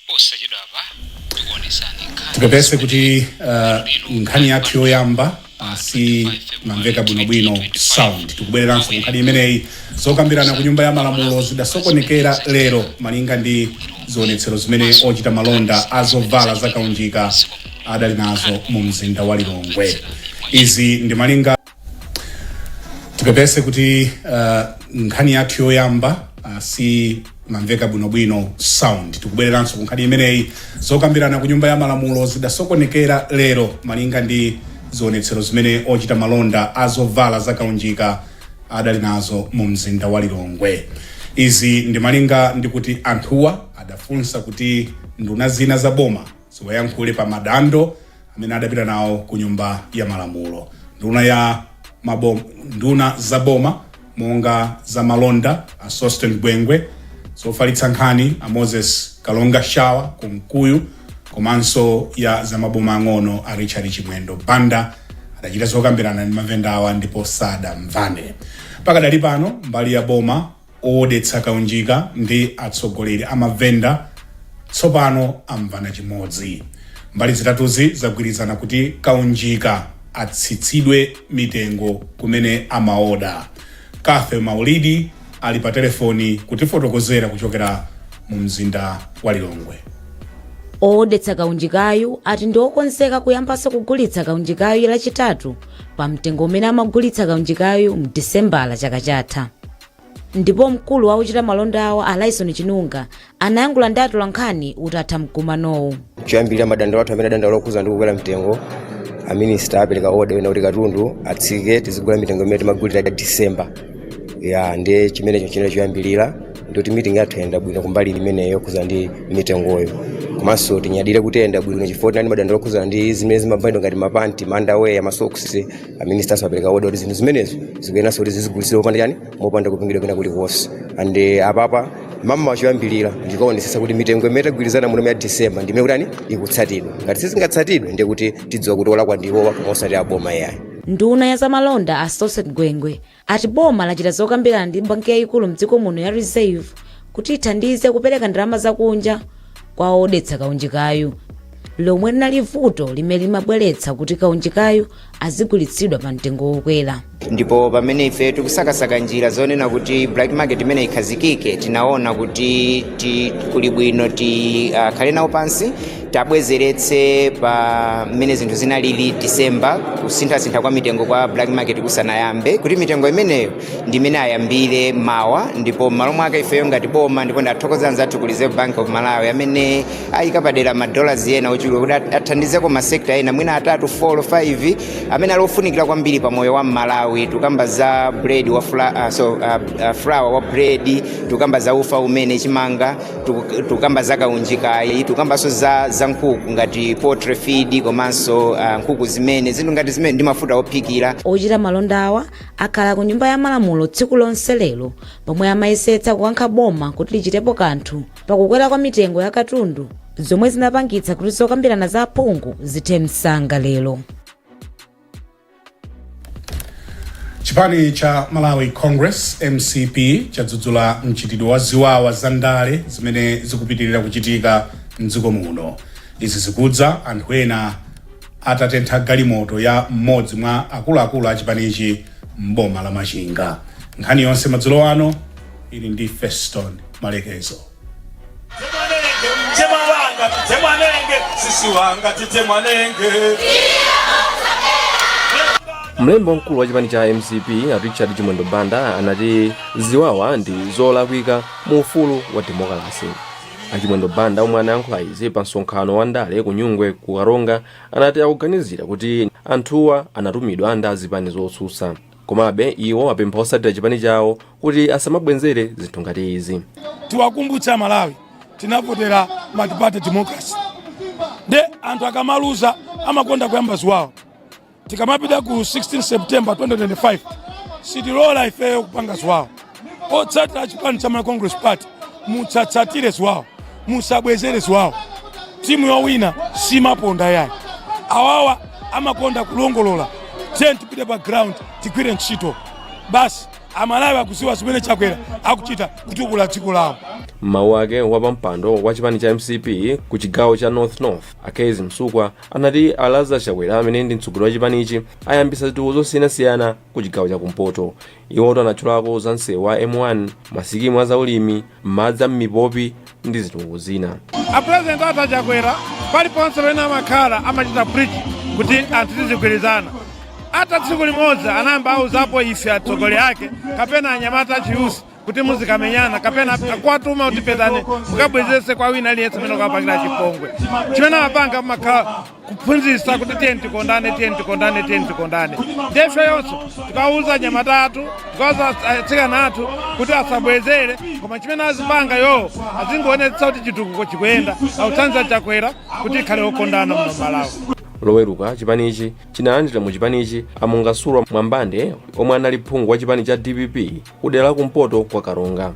Posachedwapa tikuonetsani nkhani tipepese kuti uh, nkhani yathu yoyamba uh, simamveka bwinobwino sound tikubwereranso ku nkhani imeneyi zokambirana ku nyumba ya malamulo zidasokonekera lero malinga ndi zionetsero zimene ochita malonda a zovala zakaunjika adali nazo mu mzinda wa lilongwe izi ndi malinga tipepese kuti uh, nkhani yathu yoyamba uh, simamveka bwinobwino sound tikubwereranso ku nkhani imeneyi zokambirana ku nyumba ya malamulo zidasokonekera lero malinga ndi zionetsero zimene ochita malonda azovala zakaunjika adali nazo mu mzinda wa lilongwe izi ndi malinga ndi kuti anthuwa adafunsa kuti nduna zina za boma ziwayankhule pa madando amene adapita nawo ku nyumba ya malamulo nduna ya mabom, nduna za boma monga za malonda a sosten gwengwe zofalitsa nkhani a moses kalonga shawa kunkuyu komanso ya za maboma ang'ono a richard chimwendo banda adachita zokambirana ndi mavendawa ndipo sadamvane pakadali pano mbali ya boma Oodetsa kaunjika ndi atsogoleri a mavenda tsopano amvana chimodzi. Mbali zitatuzi zagwirizana kuti kaunjika atsitsidwe mitengo kumene amaoda. Cathy Maulidi ali pa telefoni kutifotokozera kuchokera mumzinda wa Lilongwe. Oodetsa kaunjikayu ati ndi okonzeka kuyambanso kugulitsa kaunjikayu Lachitatu. pa mtengo umene amagulitsa kaunjikayu mu disemba la chaka chatha ndipo mkulu wa ochita malonda awo a laison chinunga anayankhula ndi atolankhani utatha mkumanowu choyambirira madandaulo athu amene adandaulo okhuza ndi kukwera mtengo aminista apereka oda yonena kuti katundu atsike tizigula mitengo imene timagulira ya disemba eya ndi chimenecho chinali choyambirira ndikuti meeting yathu yayenda bwino kumbali imeneyo yokhudzana ndi mitengoyo komanso tinyadire kuti yayenda bwino chifukwa tinali madandaulo okhudzana ndi zimene zimavalidwa ngati mapanti mandaweya masoksi aminister apereka oda kuti zinthu zimenezo zikuyeneranso kuti zizigulitsidwa popanda chani mopanda kupingidwa kwina kulikonse and eh, apapa mama wachoyambirira ndikuonetsetsa kuti mitengo imene tagwirizana muno ya december ndimene kutani ikutsatidwa ngati sizingatsatidwe ndiye kuti tidziwa kuti olakwa ndiwowa koma osati aboma yayi nduna ya zamalonda a sosten gwengwe ati boma lachita zokambirana ndi banki yayikulu mdziko muno ya reserve kuti ithandize kupereka ndalama zakunja kwa oodetsa kaunjikayu lomwe linali vuto limene limapangitsa kuti kaunjikayu azigulitsidwa pa mtengo wokwera ndipo pamene ife tikusakasaka njira zonena kuti black market imene ikhazikike tinaona kuti ti, kuli bwino tikhale uh, nawo pansi tabwezeretse pa mmene zinthu zinalili December kusinthasintha kwa mitengo kwa black market kusanayambe kuti mitengo imeneyo ndi imene ayambire mawa ndipo m'malo mwake ifeyo ngati boma ndipo ndithokoze anzathu ku Reserve Bank of Malawi amene ayika padera madolars ena ochuluka kuti at- athandizeko masekta ena mwina atatu 4 5 amene ali ofunikira kwambiri pa moyo wa Mmalawi tukamba za bread wa fla, uh, so, uh, uh, flour wa bread tukamba za ufa umene chimanga Tuk- tukamba za kaunjikayi tukambanso za, za nkhuku ngati poultry feed komanso uh, nkhuku zimene zinthu ngati zimene ndi mafuta ophikira ochita malonda awa akhala ku nyumba ya malamulo tsiku lonse lero pomwe amayesetsa kukankha boma kuti lichitepo kanthu pakukwera kwa mitengo ya katundu zomwe zinapangitsa kuti zokambirana za aphungu zithe msanga lero Chipani cha Malawi Congress mcp chadzudzula mchitidwe wa ziwawa za ndale zimene zikupitirira kuchitika mdziko muno. Izi zikudza anthu ena atatentha galimoto ya mmodzi mwa akuluakulu a chipanichi m'boma la Machinga. Nkhani yonse madzulo ano ili ndi Feston Malekezo. Temwanenge, mtemwa wanga, temwanenge, sisi wanga, titemwanenge. Mlembi wamkulu wa chipani cha mcp a Richard Chimwendo Banda anati ziwawa ndi zolakwika mu ufulu wa demokalasi. A Chimwendo Banda omwe anayankhula izi pa msonkhano wa ndale ku Nyungwe ku Karonga anati akuganizira kuti anthuwa anatumidwa ndi azipani zotsutsa. Komabe iwo apempha otsatira chipani chawo kuti asamabwenzere zinthu ngati izi. Tiwakumbutse a Malawi tinavotera multiparty democracy nde anthu akamaluza amakonda kuyamba ziwawa. Tikamapita ku 16 September 2025 sitilola ifeyo kupanga ziwawa. otsatira chipani cha Malawi Congress Party musatsatire ziwawa musabwezere ziwawa timu yowina simaponda yayi awawa amakonda kulongolola tiyeni tipite pa ground tigwire ntchito basi amalawi akudziwa zimene chakwera akuchita kutukula dziko lawo m'mawu ake wapampando wa chipani cha mcp ku chigawo cha north north a kezzie msukwa anati a lazarus chakwera amene ndi mtsogoleri wa chipanichi ayambitsa zitukuko zosiyanasiyana ku chigawo cha kumpoto Iwo anatchulako za msewu wa M1, masikimu a zaulimi, madzi a m'mipopi ndi zitukuko zina. A president athu a Chakwera paliponse pamene amakhala amachita preach kuti anthu tizigwirizana. Ata tsiku limodzi anayamba auzapo ife atsogoleri ake kapena anyamata achiyuthi kuti muzikamenyana kapena akuwatuma kuti pitani mukabwezese kwa wina aliyense amene akuwapangira chipongwe. Chimene amapanga amakhala kuphunzitsa kuti tiyeni tikondane tiyeni tikondane tiyeni tikondane nde ifeyonso tikawuza anyamata athu tikawuza atsikana athu kuti asabwezere koma chimene azipanga iwowo azingoonetsa kuti chitukuko chikuyenda akutsanzira chakwera kuti tikhale okondana muno malawi loweruka chipanichi chinalandira mu chipanichi amungasulwa mwambande omwe anali phungu wa chipani cha dpp kudera la kumpoto kwa karonga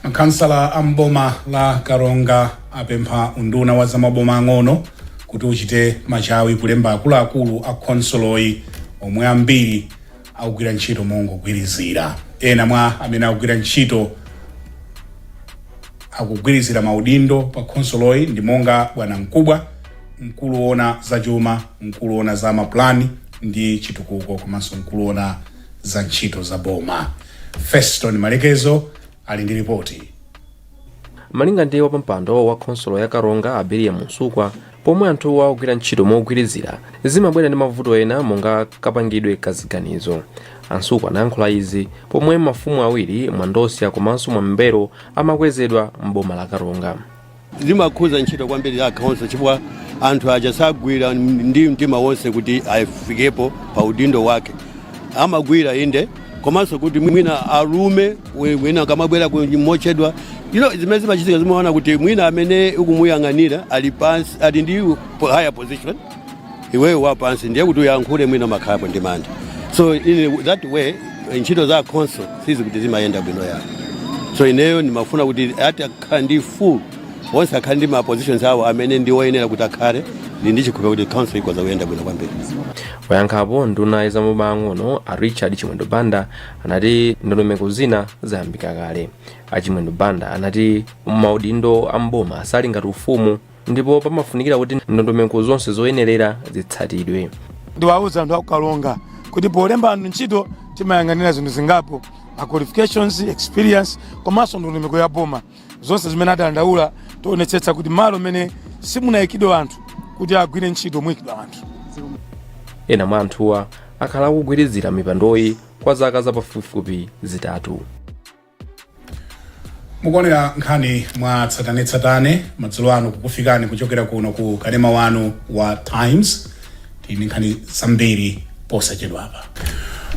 makhansala a m'boma la karonga apempha unduna wa zamaboma ang'ono kuti uchite machawi kulemba akuluakulu a khonsoloyi omwe ambiri akugwira ntchito mongogwirizira ena mwa amene akugwira ntchito yogwirizira maudindo pa khonsoloyi ndi monga bwanamkubwa mkulu woona za chuma mkulu woona za mapulani ndi chitukuko komanso mkulu woona za ntchito za boma Feston Malekezo ali ndi lipoti. malinga ndi wapampando wa khonsolo ya karonga a belliam msukwa pomwe anthuwa akugwira ntchito mogwirizira zimabwera ndi mavuto ena monga kapangidwe ka ziganizo a msukwa anayankhula izi pomwe mafumu awiri mwandosya komanso mwambero amakwezedwa m'boma la karonga zimakhuza ntchito kwambiri ya khanso chifukwa anthu aja sagwira ndi mtima wonse kuti afikepo pa udindo wake amagwira inde komanso kuti mwina alume we- wina akamabwera ku- mochedwa ino zimene zimachitika zimaona kuti mwina amene ukumuyang'anira ali pansi ali ndi higher position iweyo wapansi ndiye kuti uyankhule mwina umakhalapo ndi mantha so in that way ntchito za khanso sizi kuti zimayenda bwino ayi so ineyo ndimafuna kuti ati akhala ndi full onse akhala ndi ma positions awo amene ndi oyenera kuti akhale ndili ndi chikhulupiriro kuti khanso ikoza kuyenda bwino kwambiri poyankhapo nduna ya zamaboma ang'ono a richard chimwendo banda anati ndondomeko zina zayambika kale a chimwendo banda anati maudindo a m'boma sali ngati ufumu ndipo pamafunikira kuti ndondomeko zonse zoyenerera zitsatidwe. Ndiwauza anthu aku Karonga kuti polemba anthu ntchito timayang'anira zinthu zingapo ma qualifications, experience komanso ndondomeko ya boma zonse zimene adandaula tionetsetsa kuti malo mmene simunayikidwe anthu kuti agwire ntchito muyikidwa anthu. Ena mwa anthuwa akhala akugwirizira mipandoyi kwa zaka zapafupifupi zitatu. mukuonera nkhani mwa tsatanetsatane madzulo ano kukufikani kuchokera kuno ku kanema wanu wa times tili ndi nkhani zambiri posachedwapa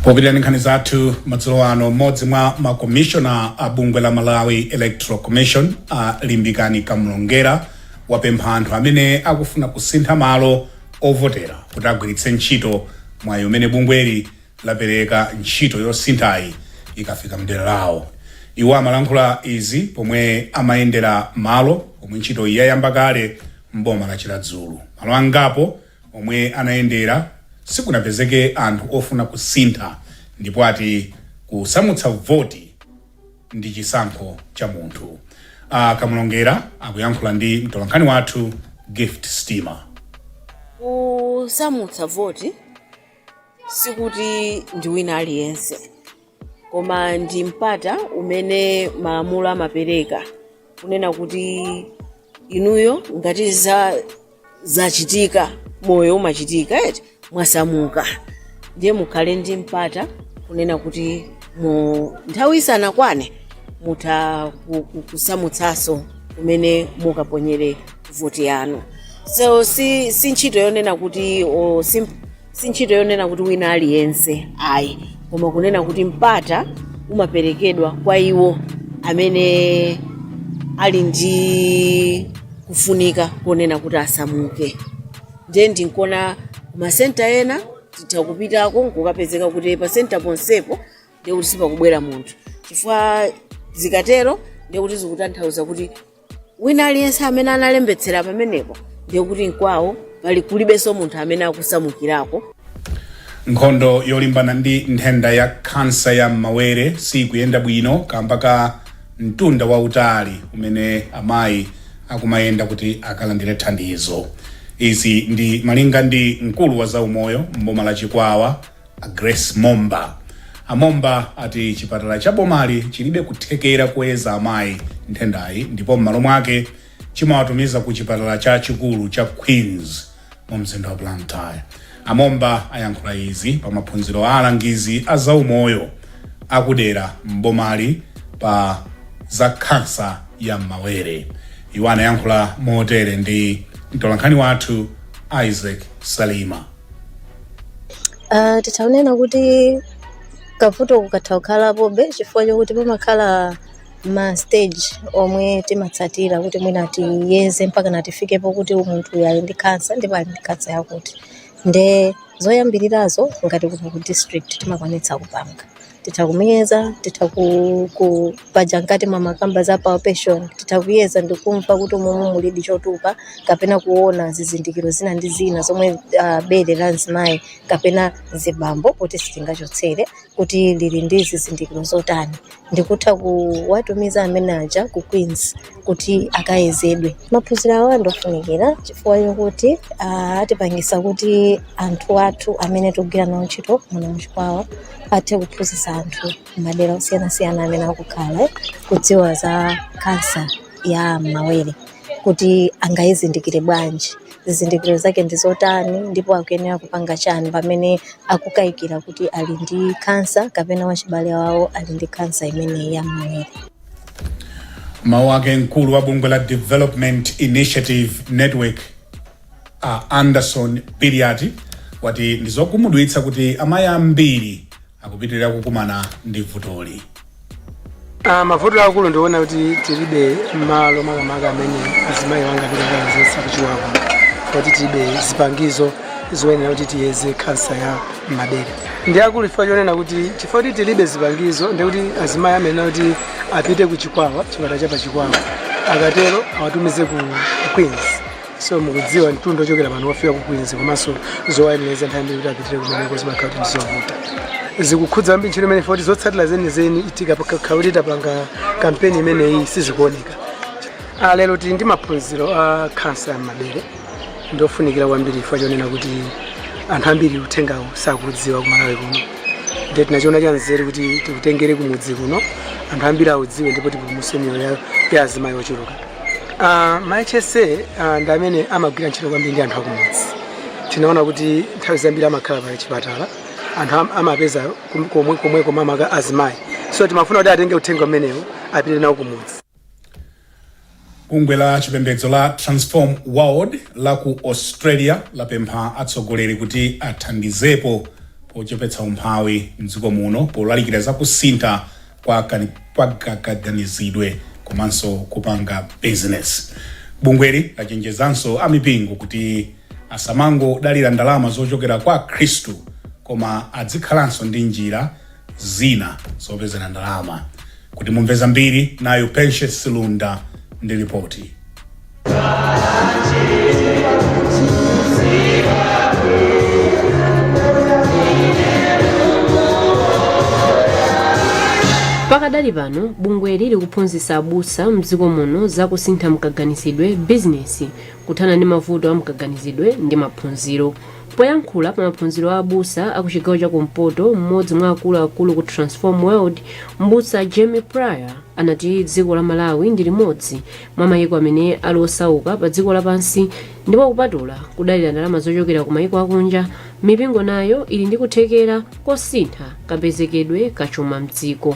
popitirira ndi nkhani zathu madzulo ano mmodzi mwa makomishona a bungwe la malawi electoral commission a limbikani kamlongera wapempha anthu amene akufuna kusintha malo ovotera kuti agwiritse ntchito mwayi umene bungweli lapereka ntchito yosinthayi ikafika mdera lawo. Iwo amalankhula izi pomwe amayendera malo omwe ntchitoyi yayamba kale m'boma la Chiradzulu. Malo angapo omwe anayendera sikunapezeke anthu ofuna kusintha ndipo ati kusamutsa voti ndi chisankho cha munthu. A Kamulongera akuyankhula ndi mtolankhani wathu Gift Sitima. Kusamutsa voti sikuti ndi wina aliyense koma ndi mpata umene malamulo amapereka kunena kuti inuyo ngati zachitika moyo umachitika eti mwasamuka ndiye mukhale ndi mpata kunena kuti mu nthawi isanakwane mutha ku- ku- kusamutsanso kumene mukaponyere voti yanu so si, si ntchito yonena kuti o, si, si ntchito yonena kuti wina aliyense ayi koma kunena kuti mpata umaperekedwa kwa iwo amene ali ndi kufunika konena kuti asamuke ndiye n'kuona kumasenta ena titha kupitako nkukapezeka kuti pasenta ponsepo ndiye kuti sipakubwera munthu chifukwa zikatero ndiye kuti zikutanthauza kuti wina aliyense amene analembetsera pamenepo ndiye kuti mkwawo pali kulibenso munthu amene akusamukirako nkhondo yolimbana ndi nthenda ya khansa ya m'mawere sikuyenda bwino kamba ka mtunda wautali umene amayi akumayenda kuti akalandire thandizo izi ndi malinga ndi mkulu wa zaumoyo mboma la chikwawa A Grace Momba. A Momba ati chipatala cha bomali chilibe kuthekera koyeza amayi nthendayi ndipo m'malo mwake chimawatumiza ku chipatala chachikulu cha Queens mu mzinda wa Blantyre. A Momba ayankhula izi pa maphunziro a alangizi a zaumoyo akudera m'bomali pa za khansa ya m'mawere. Iwo anayankhula motere ndi mtolankhani wathu Isaac Salima. Uh, titha kunena kuti kavuto kakatha kukhalapobe chifukwa chokuti pamakhala ma stage omwe timatsatira kuti mwina tiyeze mpakana tifikepo kuti munthu uyu ali ndi khansa ndipo ali ndi khansa yakuti nde zoyambirirazo ngati kuno ku district timakwanitsa kupanga titha kumuyeza titha ku- ku- paja ngati mumakamba za palpation titha kuyeza ndikumva kuti mumu mulidi chotupa kapena kuona zizindikiro zina ndi zina zomwe uh, bere la mzimayi kapena mzibambo poti sitingachotsere kuti lili ndi zizindikiro zotani ndikutha kuwatumiza amene aja ku queens kuti akayezedwe maphunziro awa ndofunikira chifukwa chokuti ah, atipangisa kuti anthu athu amene tikugwira nawo ntchito muno muchikwawa athe kuphunzitsa anthu madera osiyanasiyana amene akukhala eh, kudziwa za kansa ya mawere kuti angayizindikire bwanji zizindikiro zake ndi zotani ndipo akuyenera kupanga chani pamene akukayikira kuti ali ndi kansa kapena wachibale wawo ali ndi kansa imeneyi ya mawere mawu ake mkulu wa bungwe la development initiative network a anderson biliati wati ndizokhumudwitsa kuti amayi ambiri akupitirira kukumana ndi vutoli Ah, mavuto akulu ndi onena kuti tilibe malo makamaka amene azimayi angathe kukayezetsa chifukwa choti tilibe zipangizo zoyenera kuti tiyeze khansa ya mmawere ndi akulu chifukwa chonena kuti chifukwa kuti tilibe zipangizo ndi kuti azimayi amayenera kuti apite ku chikwawa chipatala cha pa chikwawa akatero awatumize ku ku queens so mukudziwa mtunda ochokera pano kufika ku queens komanso zowayenereza nthawi zambiri kuti apitire kumeneko zimakhala kuti ndizovuta zikukhudza kwambiri ntchito imeneyi moti zotsatira zenizeni itika pakakhala kuti tapanga kampeni imeneyi sizikuoneka Ah, lero tili ndi maphunziro a khansa ya mmawere ndi ofunikira kwambiri chifukwa chonena kuti anthu ambiri uthengawu sakuudziwa kumalawi kuno ndiye tinachiona cha nzeru kuti tiutengere kumudzi kuno anthu ambiri audziwe ndipo tipulumutse miyoyo ya- ya azimayi ochuluka Ah, ma hsa ah, ndi amene amagwira ntchito kwambiri ndi anthu akumudzi tinaona kuti nthawi zambiri amakhala pa chipatala anthu am- amapeza kum- komwe komwe komwe makamaka azimayi so timafuna kuti atenge uthenga umenewu apite nawo kumudzi Bungwe la chipembedzo la Transform World la ku Australia lapempha atsogoleri kuti athandizepo pochepetsa umphawi m'dziko muno polalikira za kusintha kwa kani- kwa ga- kaganizidwe komanso kupanga bizinesi. Bungweli lachenjezanso amipingo kuti asamangodalira ndalama zochokera kwa Akhristu koma adzikhalanso ndi njira zina zopezera ndalama. Kuti mumve zambiri, nayu Patience Lunda ndi lipoti. Pakadali pano bungweli likuphunzitsa abusa mdziko muno za kusintha mkaganizidwe, bizinesi, kuthana ndi mavuto a mkaganizidwe ndi maphunziro. Poyankhula pa maphunziro a abusa a ku chigawo cha kumpoto, m'modzi mwa akulu akulu ku Transform World, m'busa Jamie Pryor anati dziko la Malawi ndi limodzi mwa mayiko amene ali osauka pa dziko la pansi ndipo kupatula kudalira ndalama zochokera ku mayiko akunja, mipingo nayo ili ndi kuthekera kosintha kapezekedwe ka chuma m'dziko.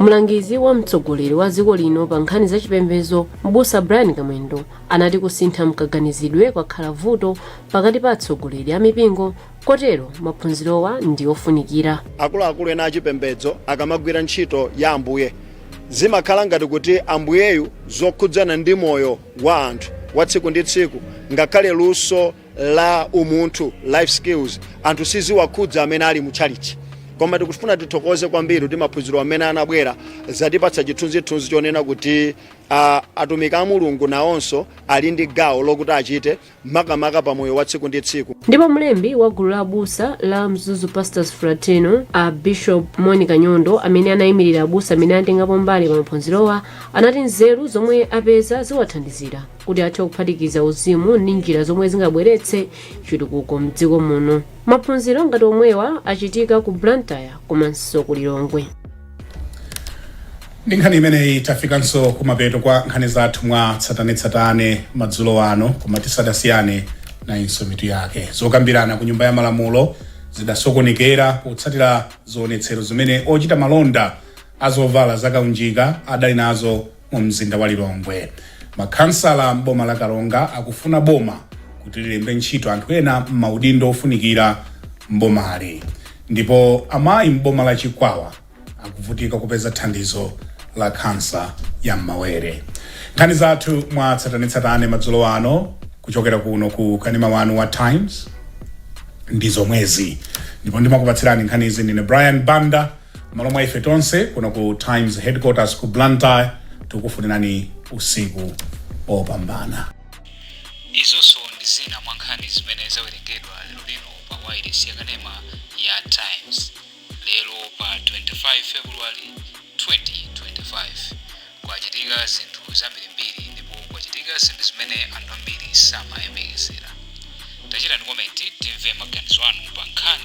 Mlangizi wa mtsogoleri wa dziko lino pa nkhani za chipembezo m'busa Brian Kamwendo anati kusintha mkaganizidwe kwakhala vuto pakati pa atsogoleri a mipingo kotero maphunzirowa ndi ofunikira. akuluakulu ena achipembedzo akamagwira ntchito ya ambuye zimakhala ngati kuti ambuyeyu zokhudzana ndi moyo wa anthu wa tsiku ndi tsiku ngakhale luso la umunthu, life skills, anthu siziwakhudza amene ali mu tchalitchi. Koma tikufuna tithokoze kwambiri kuti maphunziro amene anabwera zatipatsa chithunzithunzi chonena kuti ah, atumiki a Mulungu nawonso ali ndi gawo lokuti achite makamaka pa moyo wa tsiku ndi tsiku. ndipo mlembi wa gulu la abusa la mzuzu pastors fraternal a bishop monica nyondo amene anayimirira abusa amene anatengapo mbali pa maphunzirowa anati nzeru zomwe apeza ziwathandizira kuti athe kuphatikiza uzimu ndi njira zomwe zingabweretse chitukuko mdziko muno maphunziro ngati omwewa achitika ku blantyre komanso ku lilongwe ndi nkhani imeneyi tafikanso kumapeto kwa nkhani zathu mwa tsatanetsatane madzulo ano koma tisadasiyane nayinso mitu yake zokambirana ku nyumba ya malamulo zidasokonekera potsatira zionetsero zimene ochita malonda azovala zakaunjika adali nazo Mu mzinda wa Lilongwe, makhansala m'boma la Karonga akufuna boma kuti lilembe ntchito anthu ena m'maudindo ofunikira m'bomali. Ndipo amayi m'boma la Chikwawa akuvutika kupeza thandizo la khansa ya m'mawere. Nkhani zathu mwa tsatanetsatane madzulo ano kuchokera kuno ku kanema wanu wa Times ndi zomwezi, ndipo ndimakupatsirani nkhanizi ndine Brian Banda. M'malo mwa ife tonse kuno ku Times Headquarters ku Blantyre, tikufunirani usiku opambana. Izonso ndi zina mwa nkhani zimene zawerengedwa lero lino pa wailesi yakanema ya Times lero pa 25 February 2025. Kwachitika zinthu zambirimbiri ndipo kwachitika zinthu zimene anthu ambiri samayembekezera. Tachitani komenti timve maganizo anu pa nkhani